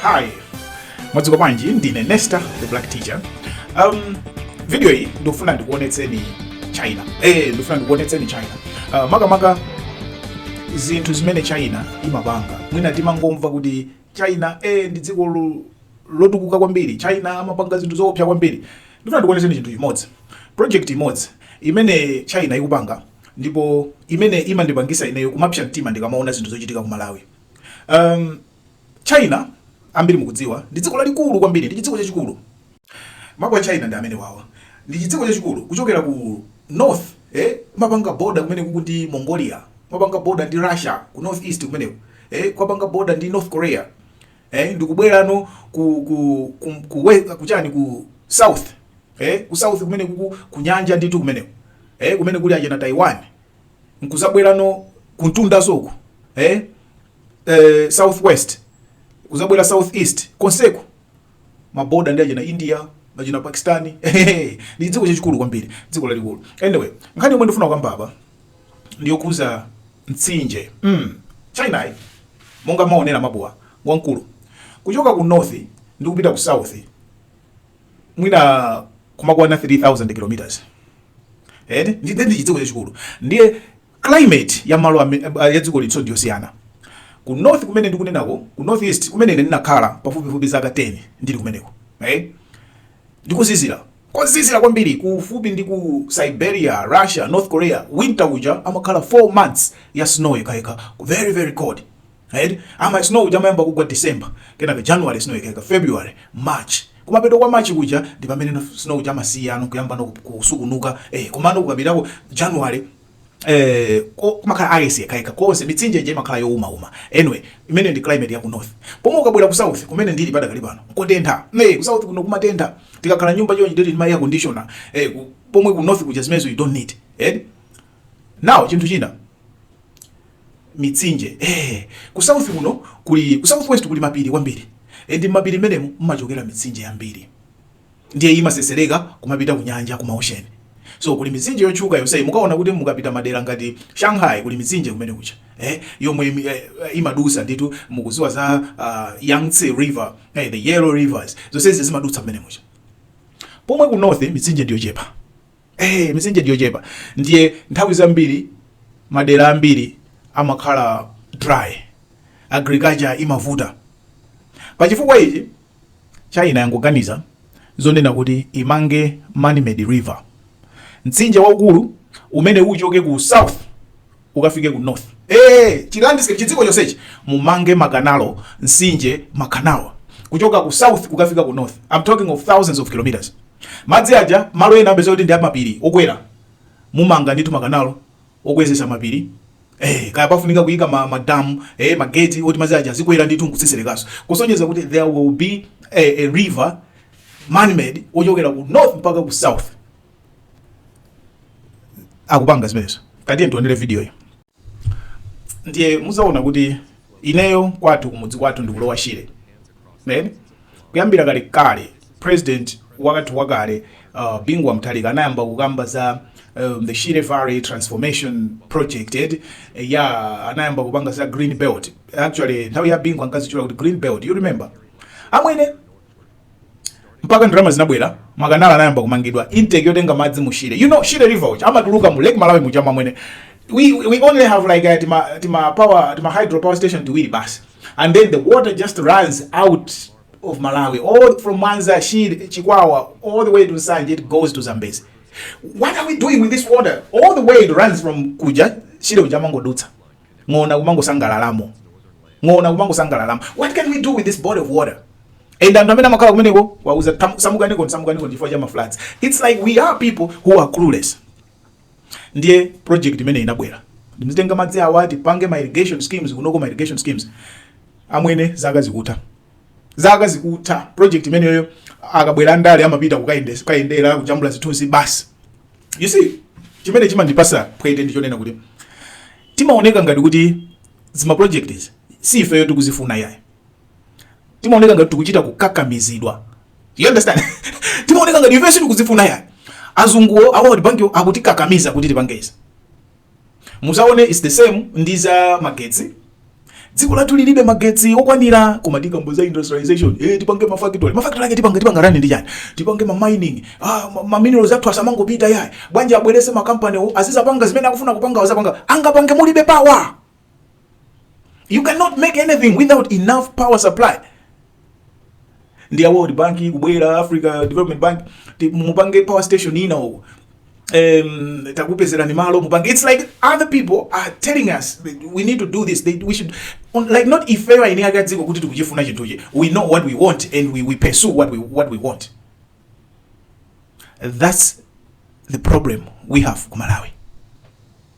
Hi, mwadzuka bwanji? Ndine Nesta the Black Teacher. Um, video iyi ndikufuna ndikuonetseni China. Eh, ndikufuna ndikuonetseni China. Uh, makamaka zinthu zimene China imapanga. Mwina timangomva kuti China eh ndi dziko lo- lotukuka kwambiri. China amapanga zinthu zoopsa kwambiri. Ndikufuna ndikuonetseni chinthu chimodzi. Project imodzi imene China ikupanga ndipo imene imandipangisa ineyo kumapsa mtima ndikamaona zinthu zochitika ku Malawi. Um, China ambiri mukudziwa ndi dziko lalikulu kwambiri, ndi chidziko chachikulu. Mapu a China ndi amenewawa, ndi chidziko chachikulu kuchokera ku north eh, kumapanga boda kumenekuku ndi Mongolia, kumapanga boda ndi Russia ku north east kumeneko eh, kumapanga boda ndi North Korea eh, ndikubwera no ku ku ku, ku, ku, ku, chani, ku south eh, ku south kumenekuku kunyanja nditu kumeneko eh, kumene kuli ajeni a Taiwan nkuzabwera no kumtunda ukoko eh? eh, southwest kuzabwera southeast konseko maboda ndi achina india achina pakistani ndi chidziko chachikulu kwambiri dziko lalikulu anyway nkhani yomwe ndifuna kukamba apa ndiyokuza mtsinje mm. china monga maonera mapuwa wankulu kuchoka ku north ndi kupita ku south mwina kumakwana 3000 kilometers eh ndi ndi chidziko chachikulu ndiye climate ya malo ame- eh, ya dziko liso ndiyosiyana ku north kumene ndikunenako ku north east kumene ine ndinakhala pafupifupi zaka 10 ndili kumeneko eh ndi kozizira kozizira kwambiri kufupi ndi ku siberia russia north korea winter uja amakhala 4 months ya snow yekhayekha very very cold eti amati snow uja amayamba kugwa December kenaka January snow yekhayekha February March kumapeto kwa March kuja ndi pamene snow uja amasiyano kuyambano kusukunuka eh komano kukafikako January eh kumakhala ice yekhayekha konse mitsinje ija imakhala youmauma anyway imene ndi climate ya ku north pomwe ukabwera ku south kumene ndili padakali pano kotentha eh ku south kuno kumatentha tikakhala nyumba chonchi ndili ndi ma air conditioner eh ku- pomwe ku north kuja zimenezo you don't need eh now chinthu china mitsinje ee ku south kuno kuli ku south west kuli mapiri kwambiri e, ndi mapiri amenewo mmachokera mitsinje yambiri ndiye imasesereka kumapita ku nyanja ku maocean so kuli mitsinje yotchuka yonseyi mukaona kuti mukapita madera ngati shanghai kuli mitsinje kumene kuja eh, yomwe imi- eh, imadusa nditu mukuziwa za uh, yangtze river eh, the yellow rivers zonsezi zimadutsa kumene kuja pomwe ku north mitsinje ndiyochepa Hey, eh, misinje ndiyochepa ndiye nthawi zambiri madera ambiri amakhala dry agriculture imavuta pachifukwa ichi china yangoganiza zonena kuti imange manmade river mtsinje waukulu umene uchoke ku south ukafike ku north ee chilandiscape chidziko chonsechi mumange makanalo mtsinje makanalo kuchoka ku south kukafika ku north i'm talking of thousands of kilometers madzi aja malo ena mupeza kuti ndi mapiri okwera mumanga ndithu makanalo okwezesa mapiri Eh, kaya pafunika kuyika ma, ma dam eh, ma gate oti madzi aja azikwera ndithu nkutsiserekaso kusonyeza kuti there will be a, a river man made ochokera ku north mpaka ku south akupanga zimenezo katiyeni tionere video yo ndiye muzaona kuti ineyo kwathu kumudzi kwathu ndi ku lower shire then kuyambira kale kale president wakathu wakale uh, bingu wa mutharika anayamba kukamba za um, the shire valley transformation project ed eh, ya yeah, anayamba kupanga za green belt actually nthawi ya bingu ankazichula kuti green belt you remember amwene mpaka ndalama zinabwera makanalo anayamba kumangidwa intake yotenga madzi mu shire you know shire river which amatuluka mu lake malawi muja amwene we, we only have like a, uh, tima, tima power tima hydro power station tiwiri basi and then the water just runs out of malawi all from mwanza shire chikwawa all the way to nsanje it goes to zambezi what are we doing with this water all the way it runs from kuja shire ujamangodutsa ng'ona kumangosangalalamo ng'ona kumangosangalalamo what can we do with this body of water and anthu amene amakhala kumeneko awauza "Tam- samukaniko samukaniko chifukwa cha mafloods it's like we are people who are clueless ndiye project imene inabwera ndi yotenga madzi awa tipange ma irrigation schemes kunoko ma irrigation schemes amwene zaka zikutha zaka zikutha project imeneyo akabwera ndale amapita kukayendesa kukayendera kujambula zithunzi basi you see chimene chimandipasa phwete ndi chonena kuti timaoneka ngati kuti zima projects si ifeyo tikuzifuna yayi timaoneka ngati tikuchita kukakamizidwa you understand timaoneka ngati ifeyo sitikuzifuna yayi azunguwo a world bank akutikakamiza kuti tipangeza Muzaone its the same ndi za magetsi. Dziko lathu lilibe magetsi okwanira koma tikamba za industrialization eh, tipange mafactory mafactory ake tipange tipanga run ndi chani tipange ma mining ah, ma, ma minerals athu asamangopita yayi bwanji abwerese ma company azizapanga zimene akufuna kupanga azapanga angapange mulibe power you cannot make anything without enough power supply ndi a world bank kubwera africa development bank ti- mupange power station ina uko um, takupezerani malo mupange it's like other people are telling us that we need to do this they, we should on- like not ifeyo aine akadziko kuti tikuchifuna chinthuchi we know what we want and we, we pursue what we, what we want that's the problem we have ku malawi